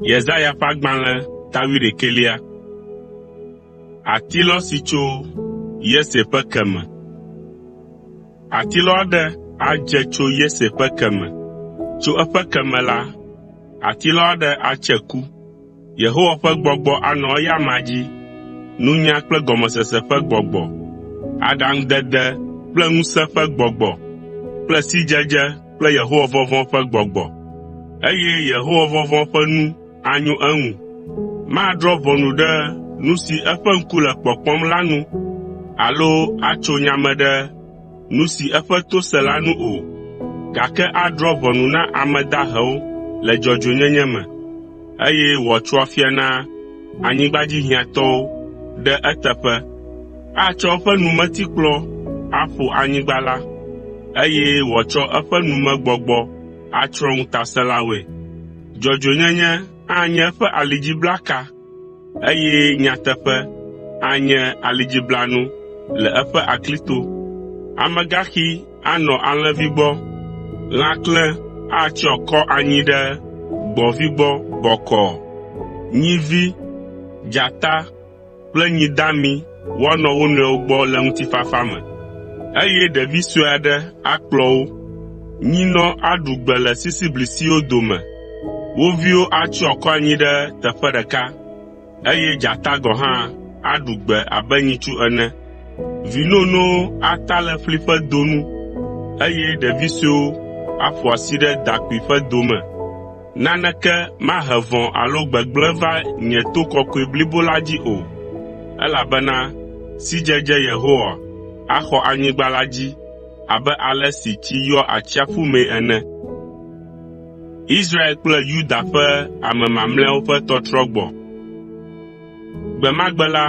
Yesaya ƒe agbalẽ ta wuiɖekɛlia. Atilɔ si tso Yese ƒe ke me. Atilɔ aɖe adze tso Yese ƒe ke me. Tso eƒe ke me la, atilɔ aɖe atse ku. Yehowa ƒe gbɔgbɔ anɔ eya amea dzi, nunya kple gɔmesese ƒe gbɔgbɔ, aɖaŋudede kple ŋusẽ ƒe gbɔgbɔ kple sidzedze kple Yehowavɔvɔ̃ ƒe gbɔgbɔ. Eye Yehowavɔvɔ̃ ƒe nu anyo eŋu. Madrɔ̃ ʋɔnu ɖe nu si eƒe ŋku le kpɔkpɔm la nu alo atso nya me ɖe nu si eƒe to se la nu o, gake adrɔ̃ ʋɔnu na ame dahewo le dzɔdzɔenyenye me, eye wòatso afia na anyigba dzi hiãtɔwo ɖe eteƒe. Atsɔ eƒe numetikplɔ aƒo anyigba la, eye wòatsɔ eƒe numegbɔgbɔ atsrɔ̃ ŋutasẽlawoe. Dzɔdzɔenyenye anye eƒe alidziblaka, eye nyateƒe anye alidziblanu le eƒe aklito. Amegaxi anɔ alẽvi gbɔ, lãklẽ atsyɔ akɔ anyi ɖe gbɔ̃vi gbɔ bɔkɔɔ, nyivi, dzata kple nyi dami woanɔ wo nɔewo gbɔ le ŋutifafa me, eye ɖevi sue aɖe akplɔ wo. Nyinɔ aɖu gbe le sisiblisiwo dome, wo viwo atsyɔ akɔ anyi ɖe teƒe ɖeka, eye dzata gɔ̃ hã aɖu gbe abe nyitsu ene. Vi nonowo ata le ƒli ƒe do nu, eye ɖevi suewo aƒo asi ɖe dakpui ƒe do me. Naneke mahe vɔ̃ alo gbegblẽ va nye to kɔkɔe blibo la dzi o, elabena sidzedze Yehowa axɔ anyigba la dzi abe ale si tsi yɔa atsiaƒu mee ene. Gbe ma gbe la,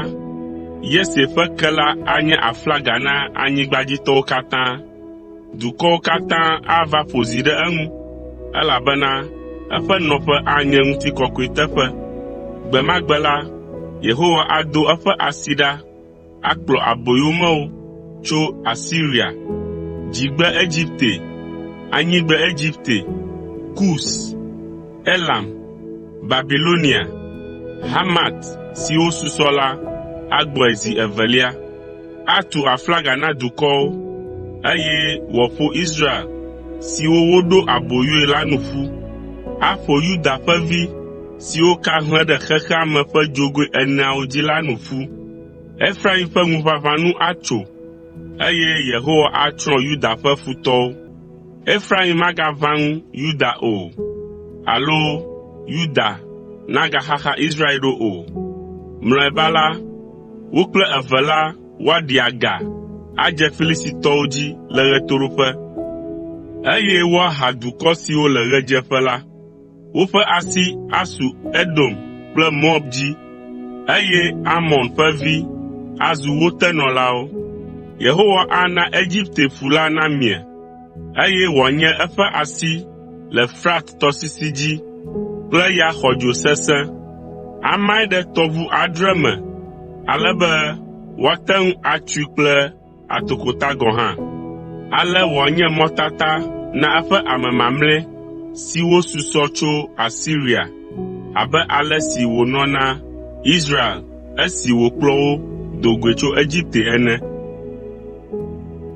Yese ƒe kela anye aflaga na anyigbadzitɔwo katã. Dukɔwo katã ava ƒo zi ɖe eŋu, elabena eƒe nɔƒe anye ŋutikɔkɔe teƒe. Gbe ma gbe la, Yehowa ado eƒe asi ɖa akplɔ aboyomewo tso Asiria, Dzigbe Egipte, Anyigbe Egipte, Kus, Elam, Babilonia, Hamat siwo susɔ la agbɔe zi evelia. Atu aflaga na dukɔwo, eye wòaƒo Israel siwo woɖo aboyoe la nu ƒu. Aƒo Yuda ƒe vi siwo ka hlẽ ɖe xexea me ƒe dzogoe eneawo dzi la nu ƒu. Efraim ƒe ŋuʋaʋã nu atso, eye Yehowa atsrɔ̃ Yuda ƒe futɔwo. Efraim magaʋã ŋu Yuda o, alo Yuda nagaxaxa Israel ɖo o. Mlɔeba la, Wo kple eve la woaɖi aga adze Filistitɔwo dzi le ɣetoɖoƒe, eye woaha dukɔ siwo le ɣedzeƒe la. Woƒe asi asu Edom kple Moab dzi, eye Amon ƒe vi azu wo tenɔlawo. Yehowa ana Egipte ƒu la namie, eye wòanye eƒe asi le Frat tɔsisi dzi kple ya xɔdzo sesẽ. Amae ɖe tɔʋu adre me ale be woate ŋu atsoe kple atokota gɔ̃ hã. Ale wòanye mɔtata na eƒe ame mamlɛ siwo susɔ tso Asiria abe ale si wònɔ na Israel esi wòkplɔ wo do goe tso Egipte ene.